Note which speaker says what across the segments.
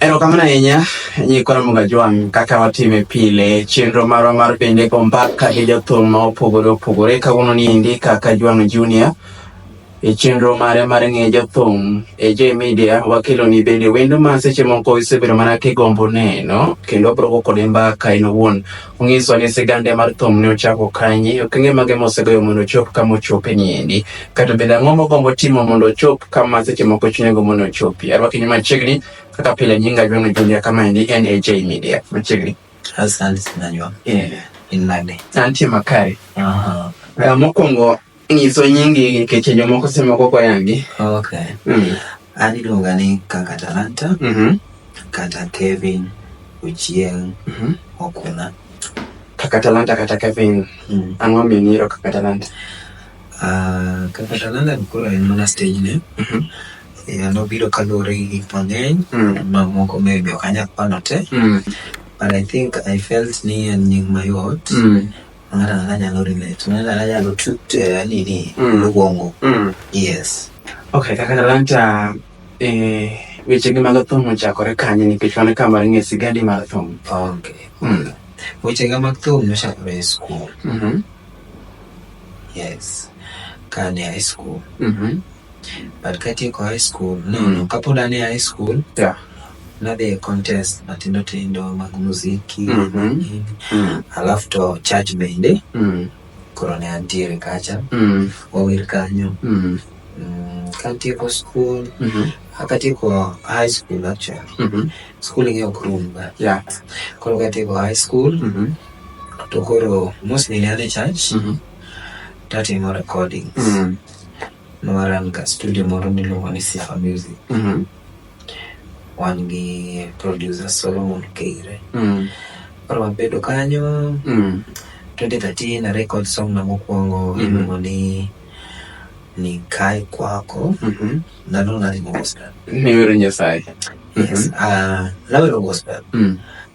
Speaker 1: Erokamano ahinya nyikoro Mugajwang' kaka watime pile chenro marwa mar bende go mbaka gi jothum ma opogore opogore kawuono ni endi kaka Jwang' Junior e chenro mare mar ng'e jothum e J Media wakelo ni bende wendo ma seche moko isebedo mana kigombo neno kendo broko kode mbaka in owuon Onyiso ni sigande mar thum ne ochako kanye, okenge mage mosegoyo mondo ochop kama ochope ni endi, kata bende ang'o mogombo timo mondo ochop kama seche moko chunye gombo ni ochopi. Arwaki ni machiegni kaka pile nyinga Jwang'o Julia kama endi en AJ Media. Machiegni. Asante sana
Speaker 2: Jwang. Yeah. In nade? Antie makare.
Speaker 1: Aha. Uh, mokwongo Nyiso nyingi nikech jomoko semoko koyangi. Okay.
Speaker 2: Mm. An iluonga ni kaka Talanta. Mm -hmm. Kata Kevin Ochieng mm -hmm. Okuna. Kaka
Speaker 1: Talanta kata Kevin. Mm. Ang'o ming'iro kaka Talanta? Uh,
Speaker 2: kaka Talanta koro en mana stage ne. Mm -hmm. Yeah, nobiro kaluwore gi gik mang'eny mm. mamoko maybe ok anyal pano te mm. but I think I felt ni en nying mayot mm. ng'ato ang'ata nyalo relate ng'ato ang'ata nyalo eh, nini mm. luongo mm. yes okay kaka
Speaker 1: talanta eh, wechegi mag thum ochakore kanye nikech wan ka mar ng'e sigadi mar thum okay
Speaker 2: mm. wechega mag thum nochakore e skul mm-hmm. yes kane high school mm-hmm. but katieko high school no mm. no kapod ane high school yeah nadhi e contest matindo tindo mag muziki mm -hmm. mm. alafu to church bende mm. koro ne antiere kacha mm. wawir kanyo mm. mm, katieko school mm -hmm. akatieko high school actually mm -hmm. school ing'e ok rum ba yeah. koro katieko high school mm -hmm. to koro mostly ne an e church mm -hmm. tatimo recordings mm. nowaran ka studio moro miluongo ni Sifa Music. Mm. Wan gi producer Solomon Keire. Mm. Koro wabedo kanyo. Mm. 2013 na record song na mokwongo mm. iluongo ni nikae kwako mm -hmm. nalo nalimo gospel. Niwero Nyasaye.
Speaker 1: Yes. Mm -hmm. uh,
Speaker 2: nawero gospel. Mm.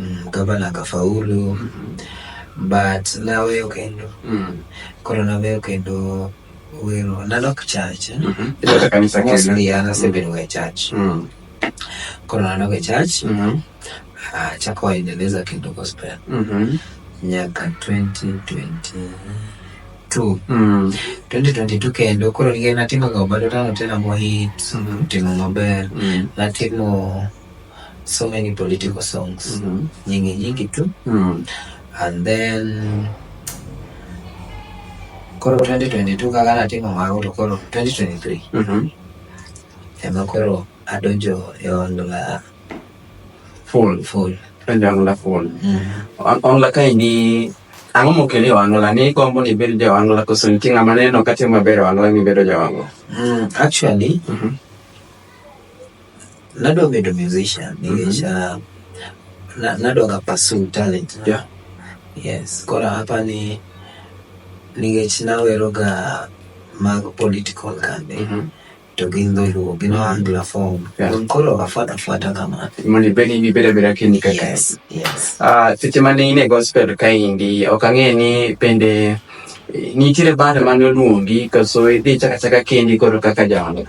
Speaker 2: Mm, gavana akafaulu but naweyo kendo mm. koro naweyo kendo wero nadok church eh? mm
Speaker 1: -hmm. mostly an asebedo e
Speaker 2: church mm. koro nadok e church mm -hmm. uh, chako waendeleza kendo gospel mm -hmm. nyaka 2020 2022 mm. 2022 kendo koro nikech natimo ga obadotano tena mohit mm -hmm. timo maber mm. natimo mm. so many political songs mm -hmm. nyingi nyingi tu mm. and then koro 2022 kaka natimo mago to koro 2023 mm -hmm. ema koro adonjo e ongla full full adonjo ongla
Speaker 1: full mm -hmm. ongla kaendi ang'o mokeli e wang'ola ni gombo ni ibed ja wang'ola koso nitie ng'ama neno katimo maber e wang'ola ni ibedo ja wang'ola mm, actually mm
Speaker 2: -hmm. Nadwa bedo musician mhm. nikech uh, nadwa ga pursue talent jo. Yes, koro hapa ni nikech nawero ga mag political kambe. Mm -hmm. to gin dholuo gin oangla form koro afuata fuata kamano mondo ibed ni ibeda
Speaker 1: beda kini kaka yes, yes. Uh,
Speaker 2: seche
Speaker 1: mane in e gospel kaendi ok ang'e ni bende nitiere band mane oluongi kaso idhi chaka chaka kendi koro kaka jaoda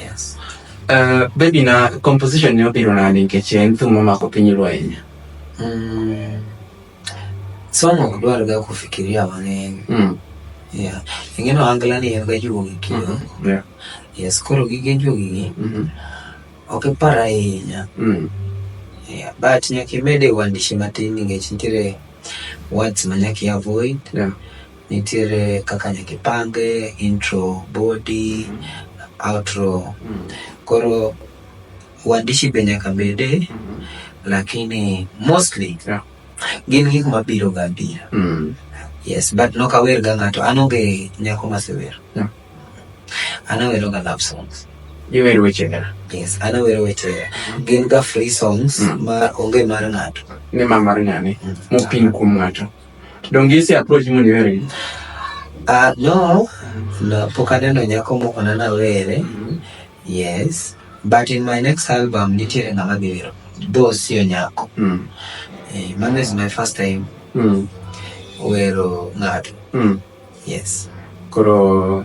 Speaker 2: Yes. Uh,
Speaker 1: baby na composition ni opiro na ni keche en thum ma mako piny lweny. Mm.
Speaker 2: Somo ok dwar ga kufikiria mang'eny. Mm. Yeah. Ingeno angla ni en ga juogi kidogo. Mm -hmm. Yeah. Yes, koro gige juogi gi. Mm -hmm. Ok ipar ahinya. Mm. Yeah. But nyaka imede uandishi matin nikech nitiere words ma nyaka i avoid. Yeah. Nitiere kaka nyaka ipange intro, body, outro. Koro uandishi be nyaka bede lakini mostly yeah. gin gik mabiro ga bira. Mm. Yes, but nok awer ga ng'ato. An onge nyako masewer. Yeah. An awero ga love songs. Iwer weche ga.
Speaker 1: Yes, an awero weche.
Speaker 2: Gin ga free songs mm. ma onge mar ng'ato. Ni ma mar ng'ani.
Speaker 1: Mm. Mopin kuom ng'ato. Donge ise approach mo ni were? Ah,
Speaker 2: no, no, pok aneno nyako moko na nawere. Yes, but in my next album nitiere ng'ama dhi wero. Though sio nyako. Mm. Eh, mano is my first time Mm. wero ng'ato. Mm. Yes. Koro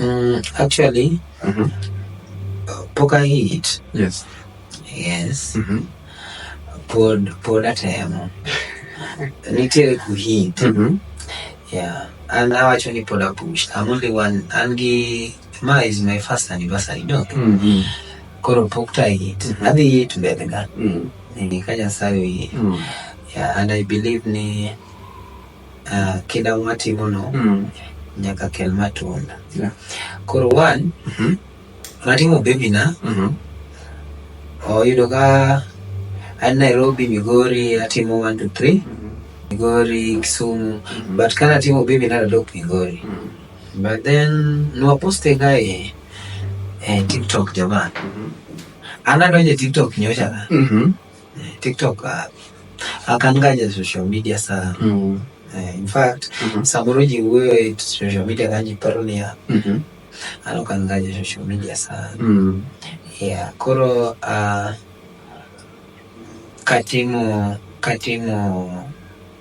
Speaker 1: Mm,
Speaker 2: actually, mm -hmm. pok ahit.
Speaker 1: Yes. Yes.
Speaker 2: Mm -hmm. Pod, pod atemo. Nitiere kuhit. Mm -hmm. Yeah. An awacho ni pod apush. I'm only one. An gi ma is my first anniversary dok. Mm -hmm. Koro pok ta hit. Mm -hmm. Adhi hit mbele ga. Mm -hmm. Ni ka Nyasaye oyie. Mm -hmm. Yeah, and I believe ni uh, kinda mwatimono mm. nyaka kel matunda yeah.
Speaker 1: koro one
Speaker 2: mm -hmm. natimo bebina mm -hmm. oyudo ka an nairobi migori atimo one to three mm -hmm. migori kisumu mm -hmm. but kana timo bebina nadok migori mm -hmm. but then nwaposte kae eh, tiktok jamaa mm -hmm. anadonje tiktok nyocha mm -hmm. TikTok uh, I can guide as social media sir. Mm. Uh, in fact, mm -hmm. Samuruji wewe social media kanji paronia. Mm -hmm. Ano kan guide social media sir. Mm. Yeah, koro uh, katimu katimu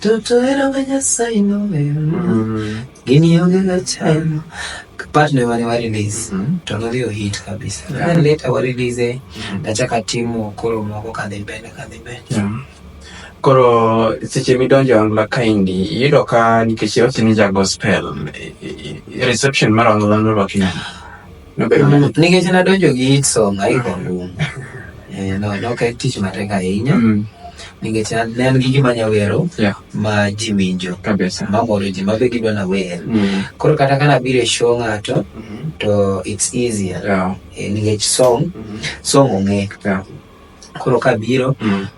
Speaker 2: Toto ero ga nyasaye no gini onge ga chano part ne mane wa release to nodhi o hit kabisa then later wa release nachaka timo koro moko kadhi mbele kadhi mbele
Speaker 1: koro seche midonjo angla kaindi iyudo ka nikech iwacho ni ja gospel reception mar angla norwaki nade
Speaker 2: Nikech nadonjo gi hit song aiko ngum. Eh, no, no, ok en tich matek ahinya. Mm. Nikech ne an gi gima nyawero yeah. ma ji winjo mamoro ji
Speaker 1: mabe gidwa
Speaker 2: na wer mm. koro kata kana biro e show ng'ato mm -hmm. to it's easier yeah. eh, nikech song mm -hmm. song ong'e yeah. koro kabiro mm.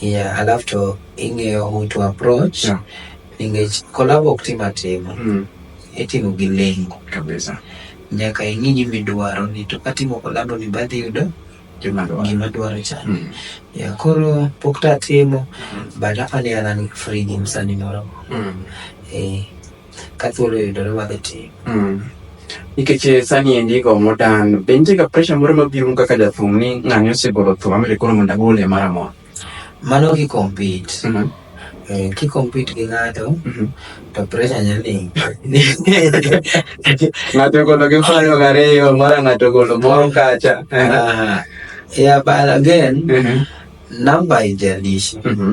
Speaker 2: yeah alafu to ing'eyo who to approach Yeah. nikech kolabo ok tim atima Mm. itimo gi lengo Kabisa.
Speaker 1: nyaka ing'i
Speaker 2: gimidwaro ni to katimo kolabo ni badhi yudo Juma ndo. gima dwaro chana Mm. ya koro pok tatimo but apa ni an an free gi msani moro Mm. eh, ka thuolo yudore wadhi tim mm. nikech
Speaker 1: eh, sani endi go modan be nitie ga pressure moro mabiro kaka jathum ni ng'ani osegolo thum amire koro mondo agole mara mora mano ki
Speaker 2: compete mm -hmm. Eh, ki compete gi ng'ato mm -hmm. to pressure nyali ng'ato
Speaker 1: golo gi faro gariyo mara ng'ato golo moro kacha
Speaker 2: yeah but again mm -hmm. number ijalishi mm -hmm.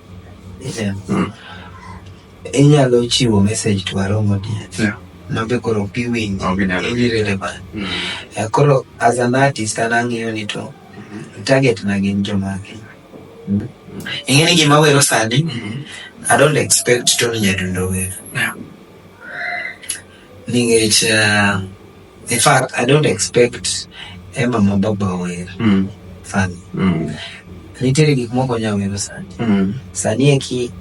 Speaker 2: inyalo chiwo message to aromo diet yeah. mabe koro ok iwinj in irrelevant mm. eh, koro as an artist an ang'iyo ni to mm-hmm. target na gin jomagi mm. mm. ing'e ni gima wero sani mm-hmm. i don't expect tony nyadundo wer Ningech uh, in fact I don't expect Emma Mababa wer. Mm. Funny. Mm. Nitiere gik moko nya wero sani. Mm. Sani eki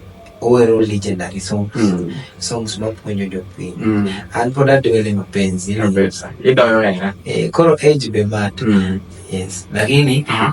Speaker 2: owero legendary songs. Mm. Songs mapuonjo jopiny. Mm. An pod adwele mapenzi. Idoyo hera.
Speaker 1: Eh, koro age be
Speaker 2: matter. Mm. Yes. Lakini uh -huh.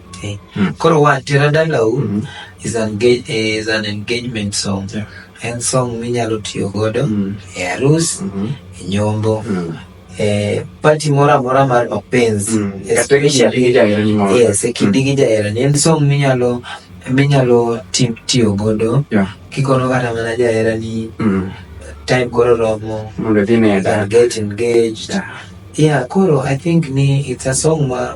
Speaker 1: Eh, Mm. Koro
Speaker 2: wa tera dalau Mm. is an ga- eh, is an engagement song. Yeah. En song minyalo tiyo godo Mm. e arus, Mhm. e nyombo, Mm. e party moro amora mar mapenzi. Mm. Kata Especially- kindi gi
Speaker 1: jaherani moro. Yes, e
Speaker 2: kindi gi jaherani. En song minyalo minyalo ti- tiyo godo Yeah. kikono kata mana jaherani Mm. time koro romo Mondo idhi ne and dad.
Speaker 1: get
Speaker 2: engaged Yeah. yeah koro i think ni it's a song ma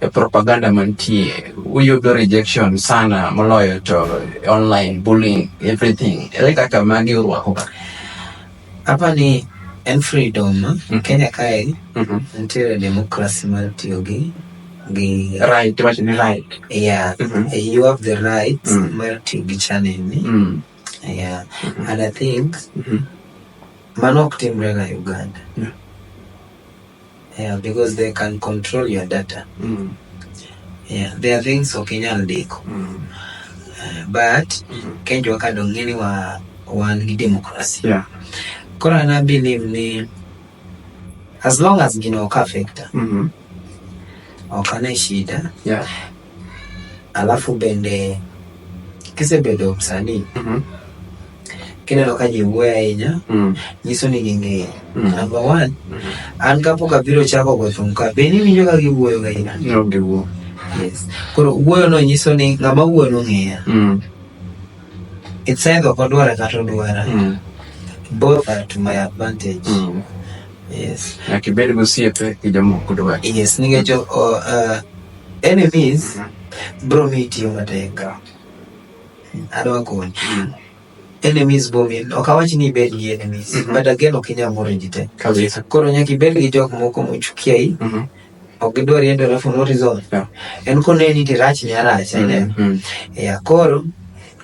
Speaker 1: e propaganda mantie uyudo rejection sana moloyo to online bullying everything ere kaka magi urwako ka hapa
Speaker 2: ni en freedom mm -hmm. Kenya kae mm -hmm. nitiere democracy mar tiyo gi gi
Speaker 1: right what ni right yeah mm
Speaker 2: -hmm. you have the right mm -hmm. mar tiyo gi channel ni mm -hmm. yeah mm -hmm. and i think mm -hmm. mano ok timre ga Uganda mm -hmm. Yeah, because they can control your data. Mm. Yeah, there are things ok inyal ndiko. Mm. Uh, but mm. Kenya waka dong ng'e ni wa wan gi democracy. Yeah.
Speaker 1: Koro na
Speaker 2: believe ni as long as gino ok affecta. Mm -hmm. Ok ane shida. Yeah. Alafu bende kisebedo msanii Mhm. kineno ka ji wuoyo ahinya Mm. nyiso ni ging'eyi Mm. number one an kapok abiro chako go thum ka be niwinjo ka giwuoyo ga ina No giwuo.
Speaker 1: yes
Speaker 2: koro wuoyo no nyiso ni ng'ama wuoyo nong'eya Mm. it's either ok odwara kata odwara Mm. both are to my advantage Mm. yes Nyaka ibed
Speaker 1: gosiepe gi jomoko dwach. yes nikech o- o,
Speaker 2: uh, Enemies mm-hmm. bro mi tiyo matek. Adwa konyi. Mm. Enemies bro mi ok awach ni ibed gi enemies mm-hmm. but again ok inyal moro ji te. Kabisa. Koro nyaka
Speaker 1: ibed gi jok
Speaker 2: moko mochukia i. Mm-hmm. Ok idwar yendo alafu no result. Yeah. En koneni to irach ni arach. Mm-hmm. Yeah, koro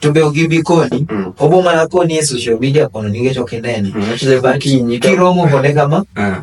Speaker 2: to be ogi bi koni mm. obo mana koni e social media kono nikech ok inene mm. kiromo kode kama ah.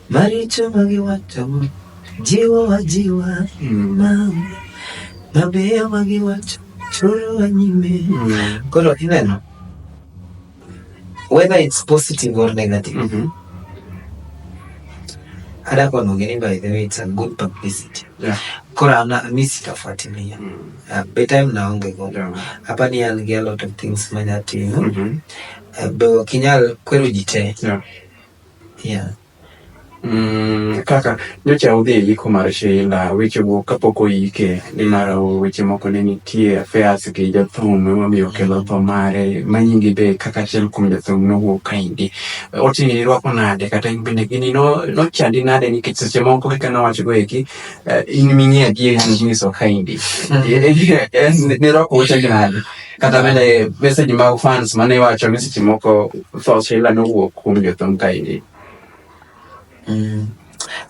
Speaker 2: Maricho ma giwachogo jiwowa jiwa mama, mabeyo ma giwacho chorowa nyime. Koro ineno whether it's positive or negative. Mm -hmm. Hata kwa nongeni by the way it's a good publicity. Yeah. Kora na mimi sitafuatilia. Mm. Uh, by time naonge go. Yeah. Hapa ni an get a lot of things manya tino. Mm -hmm. Uh, bewa kinyal kweru jite. Yeah. Yeah. Mm,
Speaker 1: kaka nyocha udhi e yiko mar Sheila, weche go kapok oyike nimar weche moko ne nitie affairs gi jathum emomiyo okelo tho mare manyingi be kaka achiel kuom jathum nowuok kaendi otini irwako nade kata in bende gini nochandi no nade nikech seche moko kaka nawacho go eki eh, in ming'e adier nyiso kaendi mm. eh, eh, nirwako uchagi nade Kata bende message mag fans mane iwacho ni seche moko tho Sheila nowuok kuom jothum kaendi. Mm.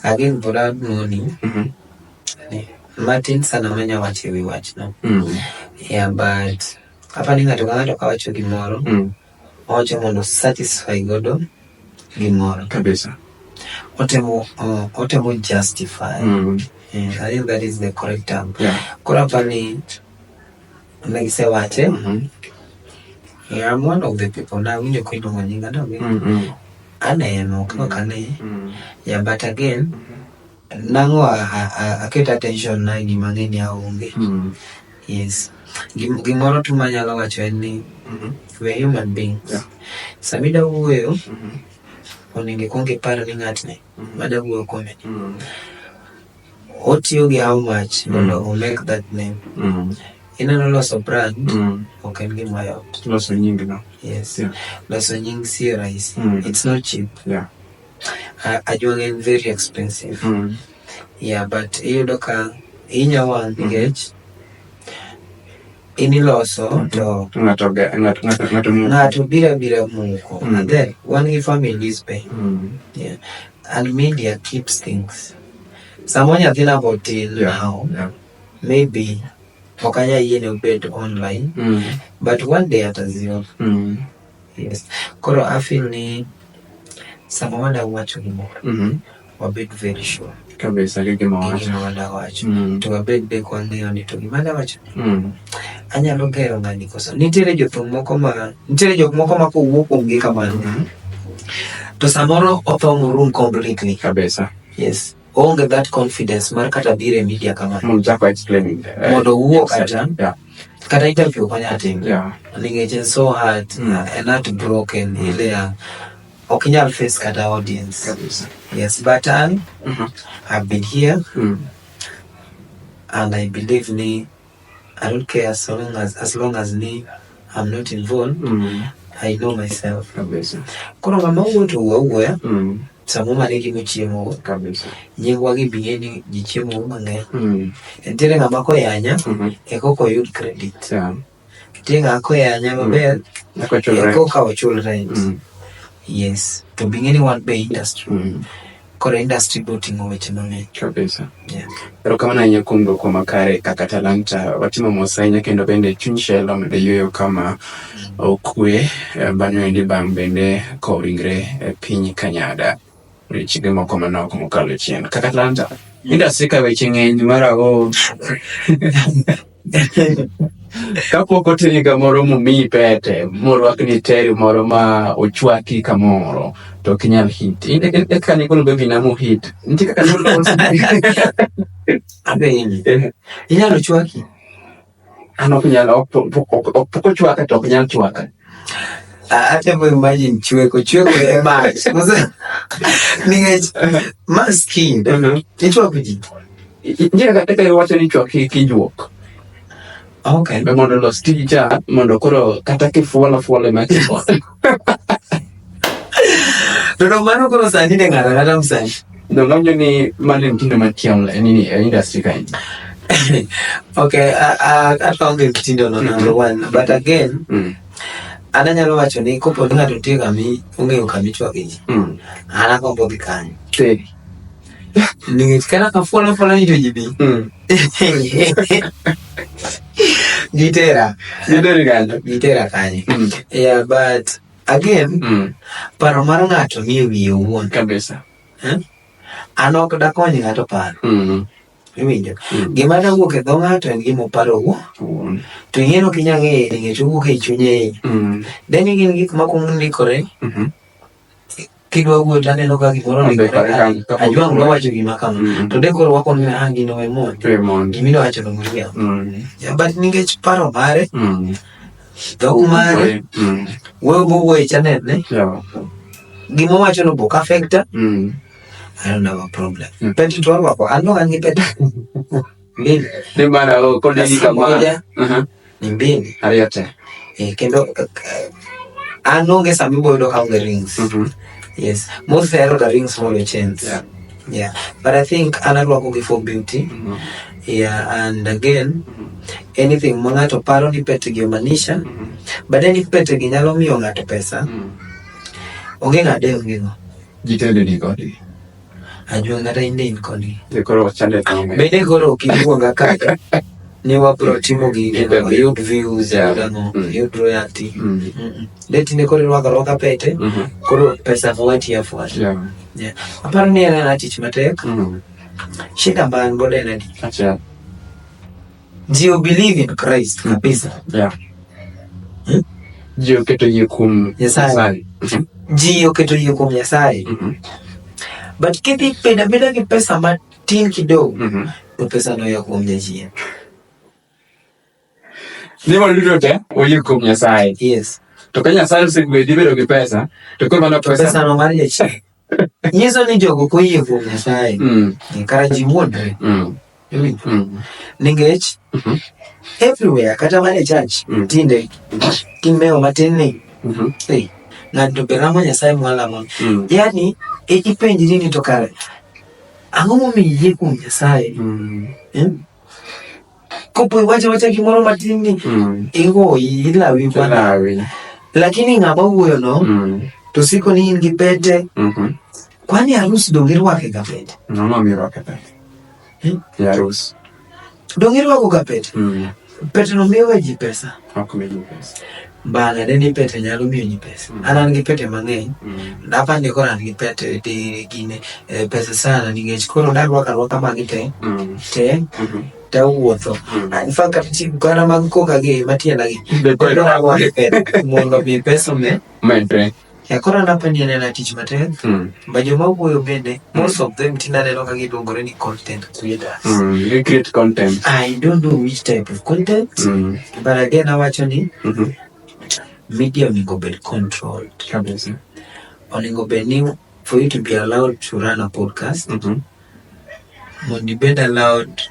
Speaker 2: Again, but I morning. Mhm. Martin sana manya wacho ewi wachno. Mm. Yeah, but hapa ni ng'ato ka ng'ato kawacho gimoro Mm. owacho mondo satisfy godo gimoro Kabisa.
Speaker 1: otemo uh,
Speaker 2: otemo justify Mm. yeah, I think that is the correct term Yeah. koro hapa ni Ne gisewache. Mhm. Yeah, I'm one of the people na winjo ko iluongo nyinga no. Mhm. Aneno kaka kane. Mhm. Yeah, but again nango a- a- a- aket attention na gima ng'eny aonge. Mhm. Yes. Gim- Gimoro tu manyalo wacho en ni Mhm. we are human beings. Yeah. Samida wuoyo Mhm. onego ikwong ipar ni ng'atni Mhm. mada wuoyo kuome Mhm. Otiyo gi how much mondo mm. omake that name. Mm. Ineno loso brand mm. ok en gima yot. Loso nying no.
Speaker 1: Yes. Yeah. Loso
Speaker 2: nying si rahisi. Mm. It's not cheap. Yeah. Uh, Ajwang en very expensive. Mm. Yeah, but iyudo ka inya wang mm-hmm. nikech mm -hmm iniloso mm-hmm. to ng'ato bira bira muko mm. and then wan gi families be mm. yeah. and media keeps things Samoro nyathina be otin yeah. maybe ok anyal yiene obed online mm. but one day at azio mm. yes koro afil ni sama wadwa wacho gimoro mm -hmm. wabed very sure kabisa gi gima
Speaker 1: wacho
Speaker 2: mm. to wabed be kwangeyo ni to gima dawacho mm. Anyalo gero ng'ani koso. Nitiere jothum moko ma nitiere jok moko ma kowuo kuom gi kamano. Mm-hmm. To samoro otho room completely. Kabisa. Yes.
Speaker 1: Onge
Speaker 2: that confidence mar kata bire media
Speaker 1: kamano. Mondo
Speaker 2: chako explaining. Eh, Mondo wuo
Speaker 1: kata.
Speaker 2: Yeah. Kata interview kwa nyatim. Yeah. Ningeche
Speaker 1: so
Speaker 2: hard. Mm. And not broken. Mm. Ile ya. Okay, I'll face kata audience. Kabisa. Yes, but I, mm -hmm. I've been here. Mm. And I believe me, I don't care as long as, as long as me I'm not involved mm. I know myself kabisa koro ng'ama wuoto wuo wuoya mm. sama mane gi mochiemo kabisa nyingwa gi biye ni ji chiemo mang'eny mm. nitiere ng'ama koyanya mm -hmm. eko koyud credit yeah. nitiere ng'ama koyanya maber mm. eko ka ochul rent mm. yes to bing'e ni wan be industry mm. Koro industry biro ting'o weche mang'eny. Kabisa. Yeah. Erokamano ahinya kuom dwoko makare kaka talanta. Watimo mos ahinya kendo bende chuny shell omedo yueyo kama okwe eh, bang'e wendi bang' bende kowo ringre e piny Kanyada. Rechige moko manok mokalo chien. Kaka talanta. Industry ka weche ng'eny mara o. kapok oteri kamoro momiyi pete morwakni teri moro ma ochwaki kamoro to ok inyal hit eka nikolo bebi na mohit nitie kaka inyalo chwaki an ok nyal ok ochwaka to ok nyal chwaka atemo imagine chweko chweko e mach nikech maskinde ichwako ji Njia katika hiyo wacha ni chwa kijuok. Okay, be mondo los tija mondo koro kata kifuola fuola ma kifuola. Dodo mano koro sani ne ng'ata ng'ata msani. Donganyo ni mali mtindo matiam la nini eh, industry kind. okay, ata onge mtindo no number mm. one, but again, mm. ana nyalo wacho ni kopo ni ng'ato nitie kami ong'eyo kami chwagi ji, mm. ana kombo gi kanyo. Teri. Ningetikana kafuana fuana nito jibi. Mm. Gitera. Gitera kanyo. Gitera kanyo. Mm. Yeah, but again, mm. paro mar ng'ato ni wiye owuon. Kabisa. Eh? An ok dakony ng'ato paro. Mm -hmm. Iwinjo. Mm. Gima nawuok e dho ng'ato en gima oparo owuon. Mm. To ing'eno ok inyal ng'eyo nikech owuok e chunye. Mm. Then gin gik makwongo ndikore. Mm -hmm. kidwa wuoyo to aneno ka gimoro ajua ng'ama wacho gima kama mm. to de koro wakono ni ah gino we mondi gima iwacho no muriyo mm. but nikech paro mare mm. dhok mare wuoyo mowuoyo e chanel ne gima owacho no bok affecta I don't have a problem. Mm. Peti tu wako, ano angi peti. Mbili. Ni mara, oh, kodi hii kama. Moja. Uh -huh. Nimbin. Ariyo te. Eh, kendo eh, an onge sama ibo yudo kaonge rings. Mhm. Yes. Mostly I order rings from your chains. Yeah. Yeah. But I think an arwako gi for beauty. Mhm. Yeah, and again, anything ma ng'ato paro ni pete gi omanisha, but then if pete gi nyalo miyo ng'ato pesa, Mhm. onge ng'ade onge ng'o. Jitende ni kodi. Ajua kata in in koni. Ni koro chande tamo. Bende koro ukiluonga kaka ni wabro timo gige no yud views yeah. yud ang'o mm. yud royalty mm. mm. de tinde koro irwako rwaka pete mm -hmm. koro pesa fuati afuati yeah. yeah. aparo ni en ana tich matek mm. shida mba an godo en adi Ji you believe in Christ kabisa. Yeah. Hmm? Ji oketo yie kuom Nyasaye. Ji oketo yie kuom Nyasaye. Mm -hmm. But kidhi peda beda gi pesa matin kidogo. Mm -hmm. To pesa no ya kuom Nyasaye. Ni waludo te oyie kuom Nyasaye. Yes. To ka Nyasaye osegwedhi bedo gi pesa, to koro mano pesa. Pesa no mar Nyasaye. Nyiso ni jogo ok oyie kuom Nyasaye mm. eh, kara ji wuondre mm. mm. nikech mm-hmm. everywhere kata mana e church mm. tinde kimewo matin ni mm-hmm. eh, ng'ato be lamo Nyasaye mwalamo mm. yani e, ipenjri ni to kare ang'o momiyo iyie kuom Nyasaye mm. eh? kopo iwache wacha gimoro matin ni mm. igoyi ilawi bwana lakini ng'ama wuoyo no mm. to siko ni in gi pete mm -hmm. kwani harusi donge irwake ga pete no no mi rwake pete hmm? ya harusi donge irwako ga pete mm. pete no miyo ji pesa ok mi ji pesa Bang'e ne ni pete nyalo miyo ji pesa. Mm. An an gi pete mang'eny. Mm. Dapa ni koro an gi pete di gine eh, pesa sana nikech koro narwaka rwaka magi te. Mm. Te. Mm-hmm. Te wuotho. Mm. Ah, in fact kata chi kara mag koka gi matienda gi. Be koro mondo mi pesa me. Mente. Ya koro anapa ni anena tich matek mm. ma joma wuoyo bende mm. most of them tinde aneno ka giluongore ni content creators mm. they create
Speaker 1: content i don't know which
Speaker 2: type of content mm. but again awacho ni mm -hmm. media onego bed controlled kabisa onego bed ni for you to be allowed to run a podcast mm -hmm. mondo ibed allowed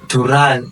Speaker 2: to run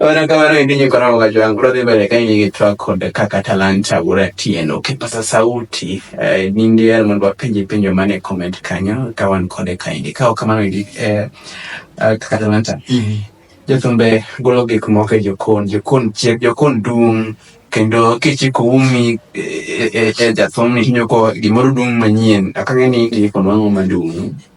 Speaker 2: Ona kamano
Speaker 1: endi nyiko na moga jwangu bro dhi mbele ka in gi track kod kaka talanta bura tieno kipasa sauti eh, nindi yer mondo wapenji penjo mane comment kanyo ka wan kode ka indi ka ok kamano endi eh, eh, kaka talanta jothumbe golo gik moko e jokon jokon chiek jokon dung kendo kichiko umi e, e, e jathumni tinyoko gimoro dung manyien akang'e ni gik mang'o madung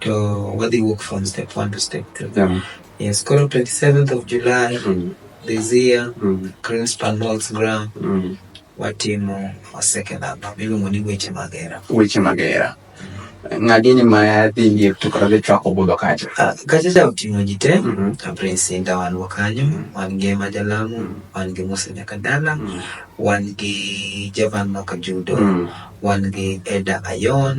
Speaker 2: to wadhi wuok from step one to step two yeah. yes koro 27th of july mm. this year mm. crinspan malls ground mm. watimo a second album iluongo ni weche magera weche magera ng'agini mayadhi liep to kata gichwako budho kacha ah, kacha cha oting'o ji te mm-hmm. ah, prince inda wan go kanyo mm-hmm. wan gi ema jalamu mm-hmm. wan gi musa nyaka dala wan gi javan maka judo wan gi eda ayon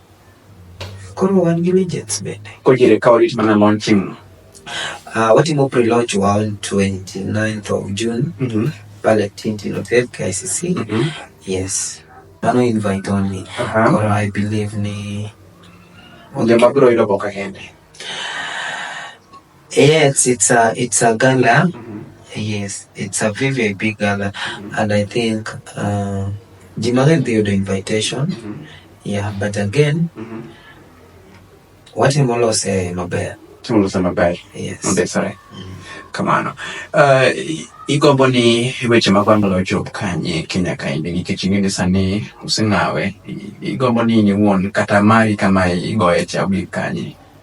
Speaker 2: Koro wan gi legends bende. Kojere ka warit mana
Speaker 1: launching no. Uh,
Speaker 2: watimo pre-launch wa on 29th of June mm -hmm. pale Tintin Hotel KICC. Mm -hmm. Yes. Mano invite only. Uh -huh. Koro I believe ni Onde
Speaker 1: mabiro yudo boka kende.
Speaker 2: Yes, it's a it's a gala. Mm-hmm. Yes, it's a very very big gala, mm-hmm. and I think uh, Jimaren did the invitation. Mm-hmm. Yeah, but again, mm-hmm. what him all say mabaya. Tumolo say mabaya. Yes. Okay, sorry.
Speaker 1: Mm-hmm. kamano uh, igombo ni weche mag wang'lo ochop kanye kenya kaendi nikech ing'e ni sani useng'awe igombo ni in iwuon kata mari kama igoye cha obi kanye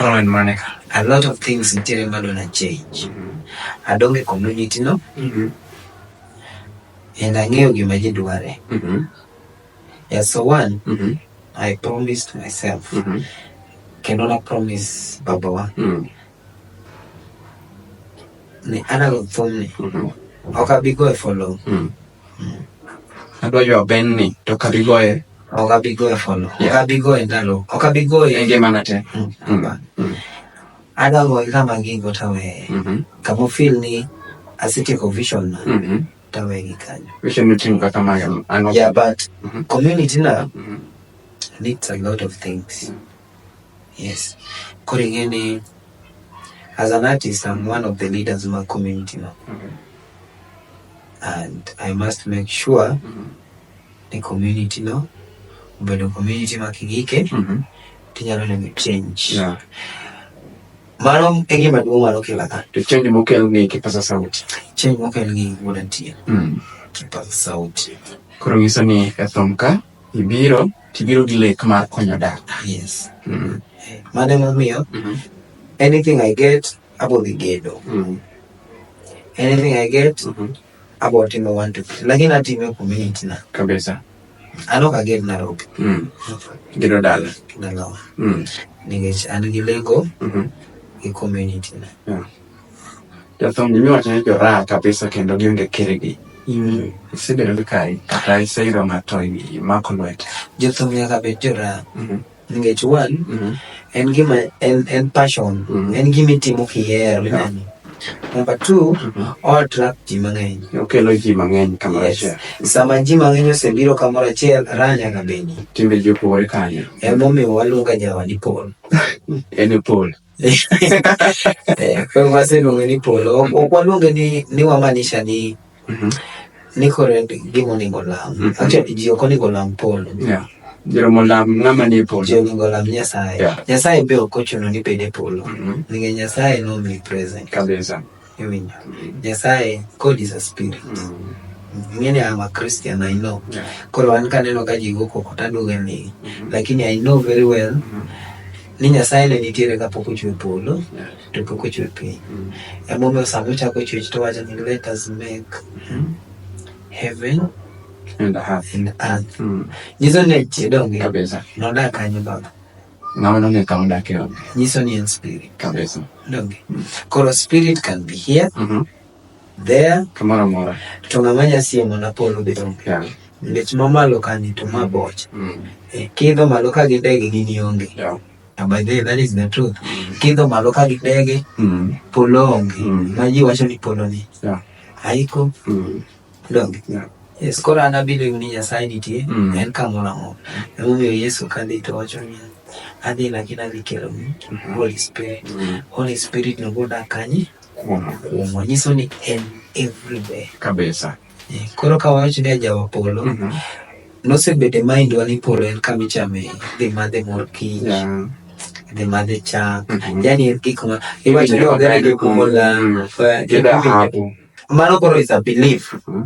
Speaker 1: Rowan Monica, a lot of things
Speaker 2: nitiere madona change. Mm -hmm. Adong e community no. Mm -hmm. And ang'eyo gima ji dware. Mm -hmm. Yeah, so one, mm -hmm. I promised myself. Mm -hmm. Kendo na promise babawa. Mm -hmm. Ni ana go thumni. Mm -hmm. Ok abi go e follow. Mm -hmm.
Speaker 1: Adwa ywa Ben ni to ok abi goye. Ok abi goye
Speaker 2: follow. Yeah. Ok abi goye ndalo. Ok abi goye. E ngimana te. Mm. Mm.
Speaker 1: Mm.
Speaker 2: Adwa goye kama gigo taweye. Mm -hmm. Kama feel ni asetieko vision na. Mm -hmm. Taweye gi kanyo. Vision niting'o kaka
Speaker 1: mage. Yeah, but mm -hmm.
Speaker 2: community na mm -hmm. needs a lot of things. Mm -hmm. Yes. Koro ing'e ni as an artist I'm one of the leaders ma community no. Okay. And I must make sure mm -hmm. ni community no obedo community ma kigike mm -hmm. tinyalo neno change. Yeah. Mano e gima duong' mano kila ka. To change mokel ng'e
Speaker 1: kipasa sauti. Change mokel ng'e
Speaker 2: wuod antie. Mm. Kipasa sauti. Koro nyiso ni
Speaker 1: e thum ka Ibiro tibiro gi lek mar konyo dak. Ah, yes. Mm
Speaker 2: -hmm. Mano emomiyo mm -hmm. anything I get abo dhi gedo. Mm -hmm. Anything I get mm -hmm. abo timo one two three. Lakini atime community na. Kabisa.
Speaker 1: Ano ka
Speaker 2: ged na rope. Mm. Gedo
Speaker 1: dala. Dala. Mm.
Speaker 2: Nikech an gi lego. Mm -hmm. Gi community na. Yeah.
Speaker 1: Jathum imiwacho ni joraa kabisa kendo gionge kirgi. Mm. Isebedo gi kai kata iseyudo ng'ato imako lwete. Jothum nyaka bed
Speaker 2: joraa. Mm-hmm. Nikech one, mm-hmm. en gima en, en passion, mm-hmm. en gima itimo kihero inani. Number two, o attract ji mang'eny. Okelo ji mang'eny
Speaker 1: kamoro achiel. Sama ji mang'eny
Speaker 2: osebiro kamoro achiel, raa nyaka bedi. Timbe ji opogore
Speaker 1: kanyo. Emomiyo waluonga
Speaker 2: jawadi Paul. En e
Speaker 1: Paul.
Speaker 2: Eh, koro waseluonge ni polo ok ok waluonge ni ni wamanisha ni Mhm. ni koro en gima onego olam Mhm. actually ji ok onego olam polo Yeah. Joromo
Speaker 1: lam ng'ama ni e ji polo. onego olam nyasaye
Speaker 2: Yeah. nyasaye be ok ochuno ni bed e polo Mhm. nikech nyasaye nomi present Kabisa.
Speaker 1: Iwinjo.
Speaker 2: Nyasaye, God is a spirit. Mm. Many I'm a Christian, I know. Yeah. Koro an kaneno ka ji goko kota duge ni. Mm-hmm. Lakini I know very well. Mm -hmm. Ni Nyasaye ne nitiere ka pok ochwe polo. Yeah. To pok ochwe piny. Mm -hmm. Emomiyo sama ochako chwech to wacho ni let us make mm -hmm. heaven and earth.
Speaker 1: And earth. Mm -hmm.
Speaker 2: Nyiso ne chidonge. Kabisa. Nodak
Speaker 1: kanyo baba.
Speaker 2: Ng'ama nonge
Speaker 1: kama odake onge. Nyiso ni en spirit.
Speaker 2: Kabisa. Donge.
Speaker 1: Mm.
Speaker 2: Koro spirit can be here. Mm -hmm. There. Kamoro amora.
Speaker 1: To ng'ama nyasie
Speaker 2: mana polo be onge. Yeah. Ngech
Speaker 1: mamalo
Speaker 2: kani to ma boch. Mm. E, kidho malo ka gi ndege gini onge. Yeah. And by the
Speaker 1: way, that is
Speaker 2: the truth. Mm. Kidho malo ka gi ndege. Mm. Polo onge. Mm. Ma ji wacho ni polo ni. Yeah. Haiko.
Speaker 1: Mm.
Speaker 2: Dong. Yeah. Yes,
Speaker 1: koro an
Speaker 2: abelieve ni Nyasaye nitie mm. en kamoro amora. Emomiyo Yesu kadhi to wacho ni adhi lakini adhi kelo ni mm-hmm. Holy Spirit. Mm. Holy Spirit no bodak kanye? Kuoma. Kuoma. Nyiso ni en everywhere. Kabisa. Yeah.
Speaker 1: Koro ka
Speaker 2: wacho ni ajawa polo. Mm -hmm. Nosebede mindwa ni polo en kama ichame dhi madhe mor kich. Yeah the mother chak mm -hmm. yani gik ma iwacho ni ogere gi kumola mm. kida hapo Mano koro is a belief. Mm-hmm.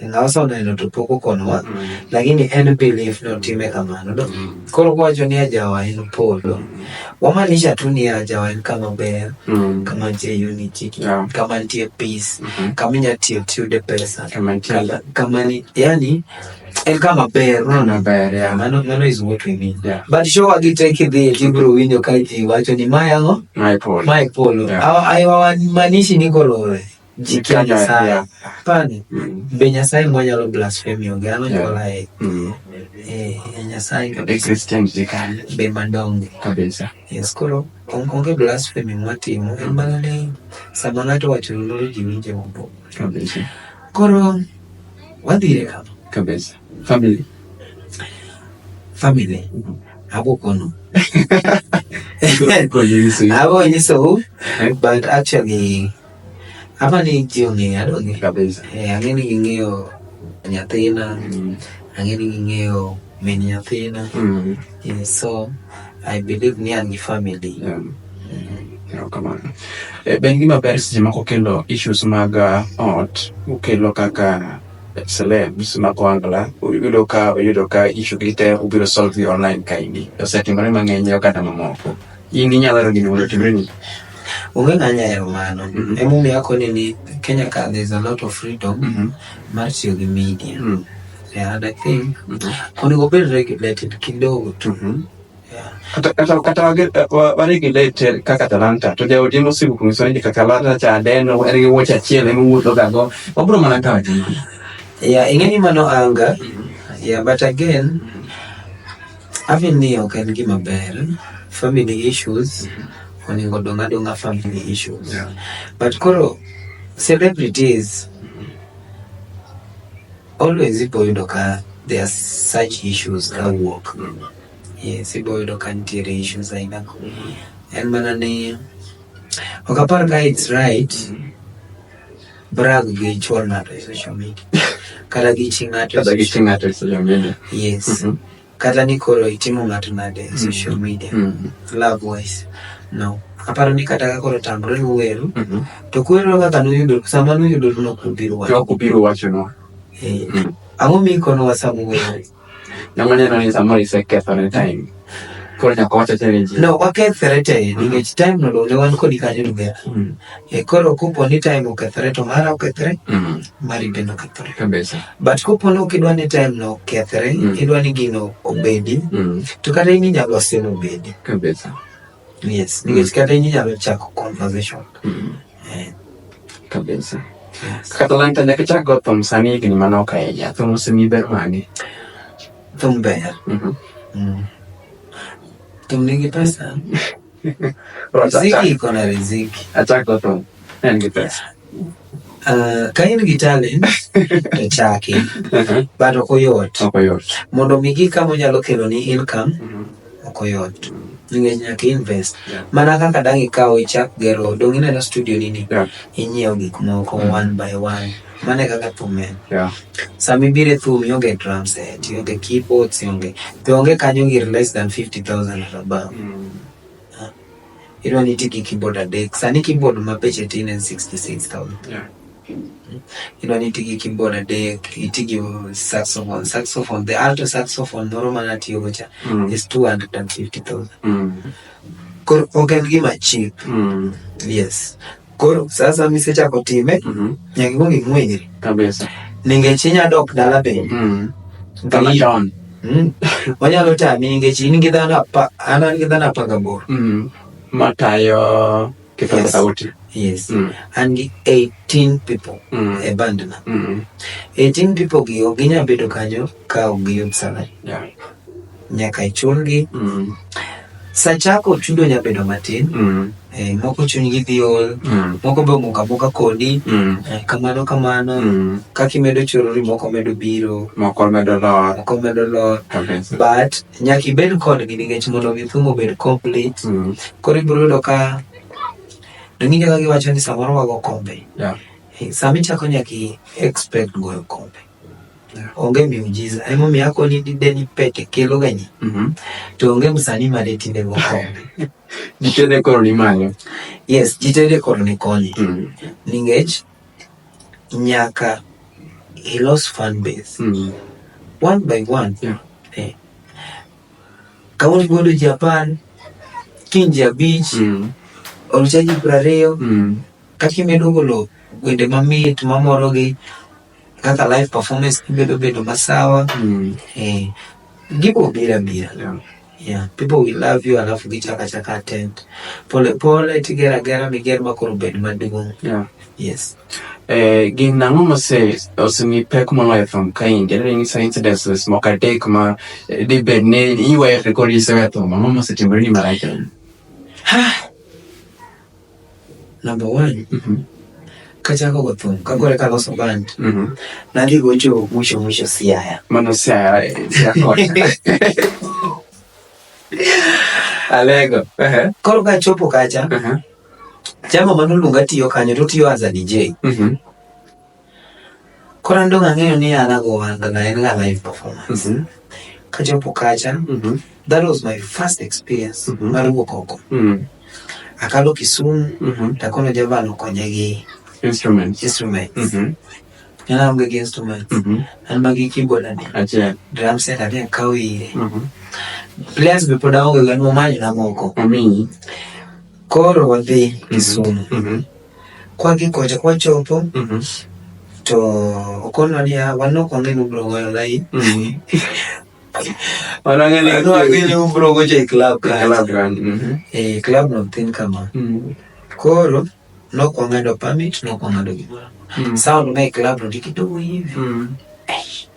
Speaker 2: Ngawasa oneno to pok okonowa. Mm-hmm. Lakini en belief no time kamano. Do. Mm-hmm. Koro kwacho ni ajawa en polo. Wamaanisha tu ni ajawa en kama ber, kama nitie unity, kama nitie peace, kama inyalo tiyo tiyude pesa, kama ni yani en kama ber unaona ber ya mano
Speaker 1: mano is what we need
Speaker 2: yeah. but show agi take
Speaker 1: it
Speaker 2: there tibro winjo ka ji wacho ni ma yango my polo my
Speaker 1: polo yeah. ai wa
Speaker 2: manishi ni kolore jikia nyasaye yeah. pane mm. be nyasaye mwa nyalo blasphemy onge ano yeah. nyola e mm. eh nyasaye be christian
Speaker 1: jikani be mandonge
Speaker 2: kabisa yes
Speaker 1: kolo
Speaker 2: onge blasphemy mwatimo en mana ni sama ng'ato wacho lulu ji winje mbo kabisa
Speaker 1: koro
Speaker 2: wadhire kama kabisa family
Speaker 1: family
Speaker 2: abo kono abo nyiso but actually ama ni ji ong'eyo adonge kabisa eh, ang'e ni
Speaker 1: ging'eyo
Speaker 2: nyathina mm. ang'e ni ging'eyo min nyathina mm. Yeah, so I believe ni an gi family.
Speaker 1: Yeah. Erokamano. E, be en gima ber seche moko kelo issues mag uh, ot ukelo kaka celebs ma koangla uyudo ka uyudo ka issue gi te ubiro solve gi online kaendi. Osetimore mang'eny e oganda mamoko. In inyalo hero gini mondo otimre ni Onge ng'anya
Speaker 2: hero mano. Mhm. Emomiyo akoni ni Kenya ka there's a lot of freedom Mhm. mar tiyo gi media. Mm. Yeah, and I think kuniko very regulated kidogo
Speaker 1: tu. Mhm. Yeah. kata waregulated kaka talanta to jaodi mosibu kunyiso ni kaka talanta cha deno en gi wuoche achiel ema wuotho ga go wabro mana kawo jima yeah ing'eni
Speaker 2: mano anga mhm. yeah but again having ni ok en gima ber family issues mhm. onego dong adong'a family issues yeah. but koro celebrities Always ipo yudo ka there are such issues ka wuok. Yes, ipo yudo ka nitiere issues aina. En mana ni ok apar ka it's right brag gi chwal ng'ato e social media kata gi chi ng'ato e social media.
Speaker 1: Yes. Mm -hmm.
Speaker 2: kata ni koro itimo ng'ato nade e social mm. media mm. love wise no aparo ni kata kakoro tamre nuweru mm-hmm. to kwero kaka nuyudo sama nuyudo nokubiro wacho nokubiro wacho
Speaker 1: no eh, mm.
Speaker 2: ang'o mikono wasamu weru namaneno ni
Speaker 1: samoro isekethone time koro nyaka wacho challenge no wakethre te
Speaker 2: nikech time no ne wan kodi kanyo duga E koro kupo ni time okethore to mara okethore mm. mari bende okethore kabisa but kupo
Speaker 1: ni ok idwa
Speaker 2: ni time no okethore mm. idwa ni gino obedi mm. to kata in inyalo seno obedi kabisa
Speaker 1: yes
Speaker 2: nikech mm. kata in inyalo chako conversation mm. yeah.
Speaker 1: kabisa yes. kata lanta nyaka chak go thum sani higni mane ok ahinya thum osemi ber mage thum
Speaker 2: ber mm -hmm. mm. thum nigi pesa Riziki iko na riziki. Achako tu. Ndio
Speaker 1: pesa. Uh,
Speaker 2: kain gi talent to chaki uh-huh. but ok oyot mondo omi gik kama onyalo kelo ni income uh-huh. ok oyot nikech nyaka invest mana kaka dang' ikaw ichak gero dong' ineno studio nini inyiew gik moko mm. one by one Mano e kaka thum en. Yeah. Sama ibiro e thum ionge drum set, ionge keyboards, ionge be onge kanyo gir less than 50,000 or above. Mm. Ah. Idwa ni iti gi keyboard adek. Sani keyboard ma beche tin en 66,000. Yeah. Idwa ni iti gi keyboard adek, iti gi saxophone. Saxophone, the alto saxophone moro ma natiyogo cha Mm. is 250,000. Mm. Koro ok en gima cheap. Mm. Yes. Koro sasa misechako time Mhm. nyaka ikwong ing'wenyri Kabisa.
Speaker 1: ningech inya
Speaker 2: dok dala bende Mm. Kama Ng'eyi-
Speaker 1: down. Mm. onyalo
Speaker 2: tami ningech in gi dhano apa- an an gi dhano apar gaboro Mm. Matayo
Speaker 1: kithogo Yes. sauti. yes Mm.
Speaker 2: an gi 18 people Mm. e bandna Mm. 18 people gi ok ginya bedo kanyo ka ok giyud salary yeah. nyaka ichulgi mm. sa chako chudo nya bedo matin mm. eh, moko chunygi dhi ol mm. moko be omoka moka kodi mm. eh, kamano kamano mm. kaka imedo chorori moko medo biro moko medo lor
Speaker 1: moko medo lor but
Speaker 2: nyaka ibed kodgi nikech mondo mi thum obed complete mm. koro ibiro yudo ka dong'injo ka giwacho ni samoro wago kombe yeah. eh, sami chako nyaki expect goyo kombe onge miujiza emomiyo ako ni dide ni pete kelo ganye mm -hmm. to onge msani mare tinde mokombe jitede koro
Speaker 1: ni malo yes jitede
Speaker 2: koro ni konyi mm -hmm. ningech nyaka ilos fan base mm -hmm. one by one yeah. eh. kauni godo ji apar kiny ji abich mm -hmm. orucha ji prariyo mm -hmm. kata kimedo golo wende mamit mamorogi kaka live performance bedo bedo masawa mm. eh, gibo bira bira yeah. Yeah, people will love you alafu gichaka chaka attend pole pole tigera gera miger makoro bed maduong yeah. yes eh, gin
Speaker 1: nang'o mose osemi pek moloyo thum ka in jadere ni sa incidences moko adek ma eh, dibed ni iwere kod isewe thum ang'o mosetimore ni marach
Speaker 2: Number one, mm -hmm. kachako go thum kagore kaloso band mm -hmm. nadhi gocho mwisho mwisho Siaya. Mano Siaya, eh,
Speaker 1: Siaya kocha. Alego. Uh -huh. Koro
Speaker 2: kachopo kacha. Uh -huh. Chama manoluonga tiyo kanyo to tiyo as a DJ. Mm -hmm. Koro an dong' ang'eyo ni an ago wanga na en ga live performance. Mhm. Kachopo kacha, Mhm. that was my first experience Mhm. mar wuok oko. Mm. Akalo Kisumu, Mhm. takono javan okonya gi Instruments.
Speaker 1: instrument.
Speaker 2: Mhm. En aonge gi instrument. Mhm. An ma gi keyboard ane. Achiel. Drum set
Speaker 1: ane
Speaker 2: akawo ire. Mhm. Players be pod aonge go, en momanyo na moko. Omiyi. Koro wadhi Kisumu. Mhm. Kwagigocho kwachopo mm -hmm. to okonwa niya wan ok wang'e ni ubiro goyo lain mm -hmm. wan wang'e
Speaker 1: ni wang'e ni ubiro gocho
Speaker 2: e club kanyo club run
Speaker 1: mm -hmm. e club
Speaker 2: no thin kama mm -hmm. koro nok wang'ado permit nok wang'ado gimoro mm -hmm. sound mae club no ni kidogo hivi mm -hmm.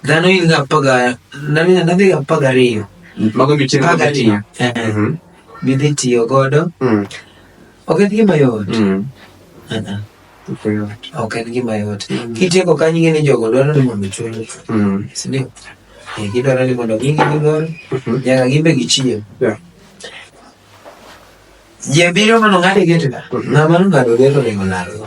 Speaker 2: Dhano in ga paga, nani nadhi ga paga riyo. Mago mi chenro
Speaker 1: ga tiyo.
Speaker 2: Mhm. Bidhi tiyo godo. Mm. Ok en gima yot. Mm. Uh-uh. Ok en gima yot. Mm. Kitieko kanyo ing'e ni jogo dwaro ni mondo chuli. Mm. Sindio? Eh, gidwaro ni mondo gigi gigol. Mhm. Nyaka gimbe gichiem. Yeah. Jebiro mano ng'ade gete da. Mhm. Ng'ama nong'ado gete onego lalgo.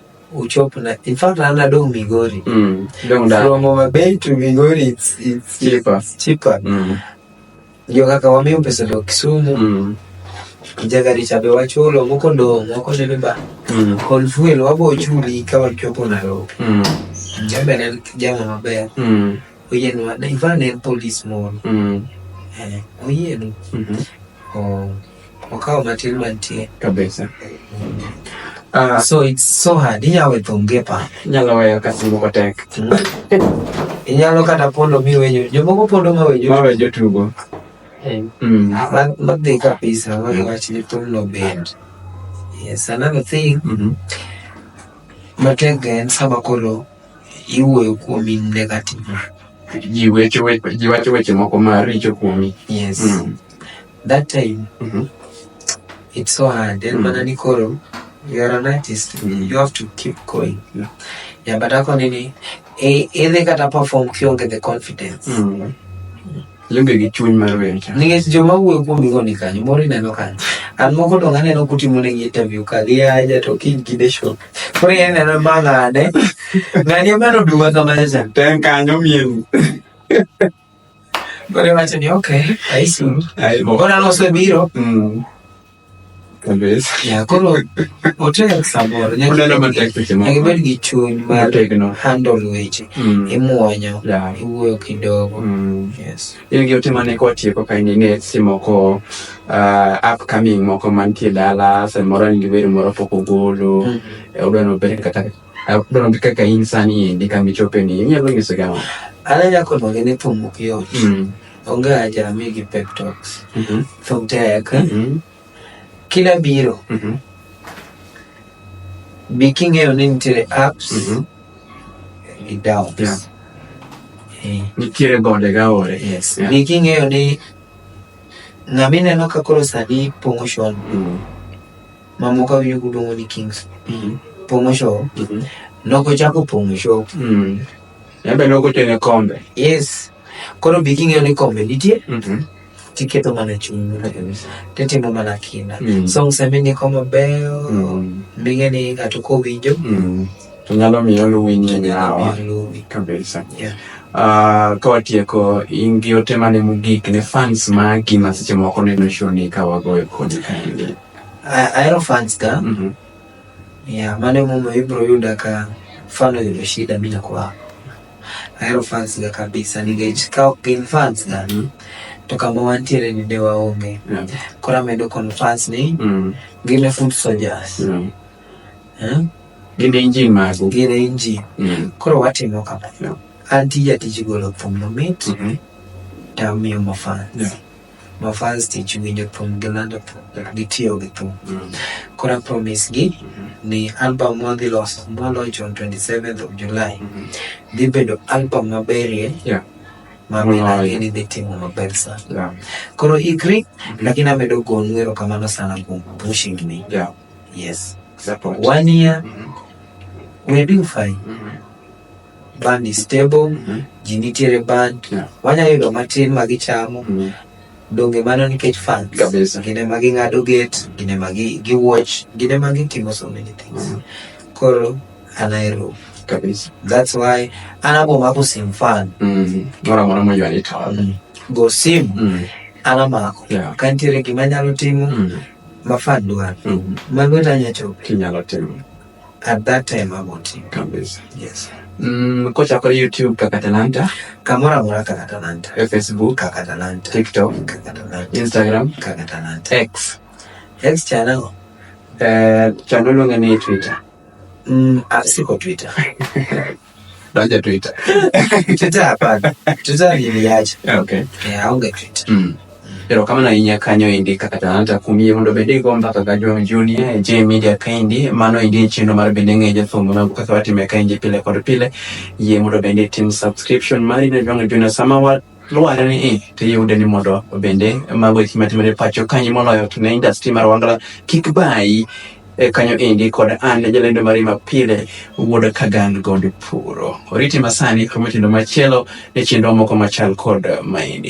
Speaker 2: uchop na in fact ana dong migori mm. dong da from our bay to migori it's, it's cheaper it's cheaper mm. ndio kaka wamio pesa do kisumu mm. jagari chabe wachulo moko do moko ne ba mm. kol fuel wabo chuli ka wachopo na ro mm. jabe na jama maber mm. oyen wa na ivane police moro mm. eh oyen mm -hmm. oh Wakawa matin mantie. Kabisa. Uh, so it's so hard. Inyalo we thonge pa. Inyalo weyo ka
Speaker 1: simu matek.
Speaker 2: Inyalo kata pondo mi weyo. Jomoko pondo ma weyo. Ma weyo tugo.
Speaker 1: Mm.
Speaker 2: Madhi kabisa. Wagi wach ni thumno bend. Yes, another thing. Mm -hmm. Matek en sama koro iwuoyo kuom in negative.
Speaker 1: Ji wacho weche moko maricho kuomi. Yes. Mm.
Speaker 2: that time mm -hmm. it's so hard and mm. mana ni koro you are an artist mm. you have to keep going yeah, yeah but ako nini e, idhi kata perform kionge the confidence mm.
Speaker 1: Limbe gi chuny mar wer cha. Nikech joma wuoyo kuom
Speaker 2: gigo ni kanyo, moro ineno kanyo. An moko to aneno kutimo ne gi interview ka gi aja to kiny gi de show. Koro ineno mang'ane. Ng'ani omero duma kama cha. Ten kanyo mien. Koro iwacho ni ok, aisuru. Koro an osebiro. Mm.
Speaker 1: Koro
Speaker 2: otek samoro
Speaker 1: nyakibed gi chuny mar
Speaker 2: handle weche mm. imuonyo iwuoyo kidogo mm. in gi ote mane
Speaker 1: kwatieko ka in ing'e seche moko uh, upcoming moko mantie dala samoro in gi wer moro pok ogolo mm-hmm. eh, odwa nobed kata Abdul ndika ka in sani endi kambi chope ni inyalo nyiso gama. Ala ya kono gene
Speaker 2: thum ok yot. Mm. Onge aja mi gi pep talks. Mm -hmm. Thum tek. Mm -hmm. Kila biro. Mm -hmm. Bi king'eyo ni nitiere apps. Mm -hmm. Gi downs. Yeah. Eh.
Speaker 1: Nitiere gode ga ore. Yes. Yeah. Bi king'eyo
Speaker 2: ni ng'ama ineno ka koro sani pong'o shon. Mm -hmm. mamoko awinjo kuluongo ni kings mm. pong'o show mm -hmm. nogo chako pong'o show mm.
Speaker 1: embe nogo tene kombe yes
Speaker 2: koro bi king'eyo ni kombe nitie mm -hmm tiketo mana chuny titimo mana kinda mm. so msemi ni koma beyo mm. minge ni ng'ato kowinjo mm. to nyalo
Speaker 1: miyo luwi nyinyi hawa kabisa yeah. Uh, ka watieko in gi ote mane mogik ne fans magi ma seche moko neno show ni ka wagoyo kodi kaendi Hierophants
Speaker 2: ka mm -hmm. ya mane mumo ibro yuda ka fano yudo shida bila kwa Hierophants ga kabisa ningech ka ok gin fans ga mm -hmm. to kama wantiere ni de waonge yeah. kora medo conference ni mm -hmm. gine food soldiers yeah. eh?
Speaker 1: gine inji magu gine inji mm -hmm.
Speaker 2: koro watimo kama yeah. anti jatiji golo thum mamit mm -hmm. tamiyo mafans yeah. ma fans tich winjo thum gi lando thum gi tiyo gi thum mm. kora promise gi mm-hmm. ni album ma dhi loso ma launch on 27th of July mm-hmm. dhi bedo album maberie yeah mamilagi ni dhi timo maber sana koro ikri mm-hmm. lakini amedo gonu erokamano sana kuom pushing ni yes one year we're doing fine band is stable mm -hmm. ji nitiere band yeah. wanya yudo matin ma gichamo mm -hmm. donge mano nikech fans gine ma ging'ado gate gine ma giwatch gine ma gitimo so many things mm -hmm. koro anaero kabisa
Speaker 1: that's why
Speaker 2: anabomako sim fan mm -hmm. mora mora
Speaker 1: moyo anitwala mm -hmm. go sim mm
Speaker 2: -hmm. anamako yeah. kantiere gima nyalo timo mm -hmm. mafan dwaro mm -hmm. mago tanyachope kinyalo timo
Speaker 1: at that
Speaker 2: time about it kabisa yes mm, kocha
Speaker 1: kwa youtube kaka talanta kamora mora
Speaker 2: kaka talanta e facebook kaka
Speaker 1: talanta tiktok
Speaker 2: kaka
Speaker 1: talanta instagram
Speaker 2: kaka
Speaker 1: talanta x x channel
Speaker 2: eh uh,
Speaker 1: channel ngani twitter mm,
Speaker 2: asiko ah, twitter
Speaker 1: Doja Twitter. Twitter
Speaker 2: hapana. Twitter niliacha. Ah, okay. Eh, aonge
Speaker 1: Twitter.
Speaker 2: Mm. Pero kama na
Speaker 1: inya kanyo indi kaka talanta kumie mundo bende go mbaka ga John Junior eh, J Media kaindi mano indi chino mar bende ngeje thumbo na kaka wati meka indi pile kod pile ye mundo bende tim subscription mari na John Junior Samawa Luware ni i, to iyude ni mondo bende mago eki matimore e pacho kanyi moloyo to ne industry mar Wangla kik bayi e kanyo endi kod an jalendo mari ma pile wuod Kagan Gond Puro. Oriti masani kod mitindo machielo ne chenro moko machal kod maendi.